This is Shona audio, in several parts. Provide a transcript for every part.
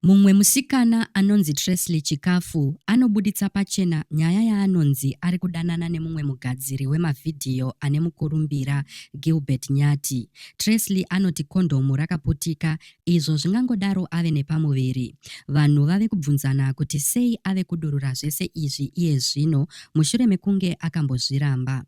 Mumwe musikana anonzi Tresley Chikafu anobuditsa pachena nyaya yaanonzi ari kudanana nemumwe mugadziri wemavhidhiyo ane mukurumbira, Gilbert Nyati. Tresley anoti kondhomu rakaputika izvo zvingangodaro ave nepamuviri. Vanhu vave kubvunzana kuti sei ave kudurura zvese izvi iye zvino mushure mekunge akambozviramba.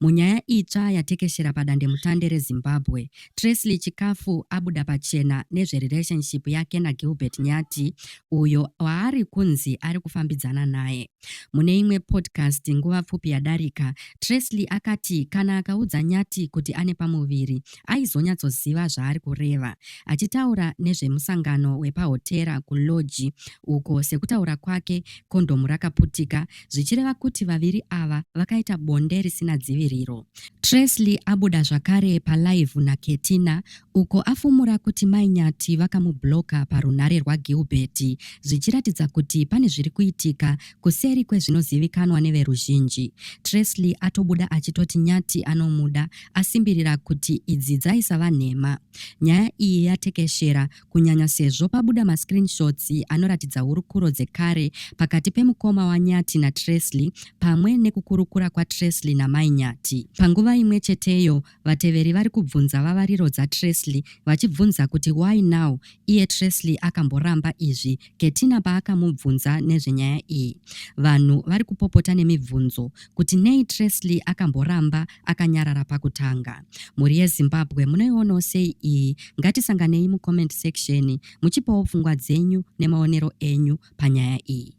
Munyaya itsva yatekeshera padandemutande reZimbabwe, Tresley Chikafu abuda pachena nezverelationship yake naGilbert Nyati uyo waari kunzi ari kufambidzana naye. Mune imwe podcast nguva pfupi yadarika, Tresley akati kana akaudza Nyati kuti ane pamuviri aizonyatsoziva zvaari kureva. Achitaura nezvemusangano wepahotera kuLodge uko sekutaura kwake kondhomu rakaputika, zvichireva kuti vaviri ava vakaita bonde risina dziviriro. Tresley abuda zvakare palive naKetina uko afumura kuti Mai Nyati vakamubloka parunhare rwaGilbert zvichiratidza kuti pane zviri kuitika kuseri kwezvinozivikanwa neveruzhinji. Tresley atobuda achitoti Nyati anomuda asimbirira kuti idzi dzaisava nhema. Nyaya iyi yatekeshera kunyanya sezvo pabuda mascreenshots anoratidza hurukuro dzekare pakati pemukoma waNyati naTresley pamwe nekukurukura kwaTresley namai Nyati. Panguva imwe cheteyo, vateveri vari kubvunza vavariro dzaTresley vachibvunza kuti why now iye Tresley akamboramba izvi Getina paakamubvunza nezvenyaya iyi, vanhu vari kupopota nemibvunzo kuti nei Tresley akamboramba akanyarara pakutanga. Mhuri yeZimbabwe munoionawo sei iyi? Ngatisanganei mucomment section muchipawo pfungwa dzenyu nemaonero enyu panyaya iyi.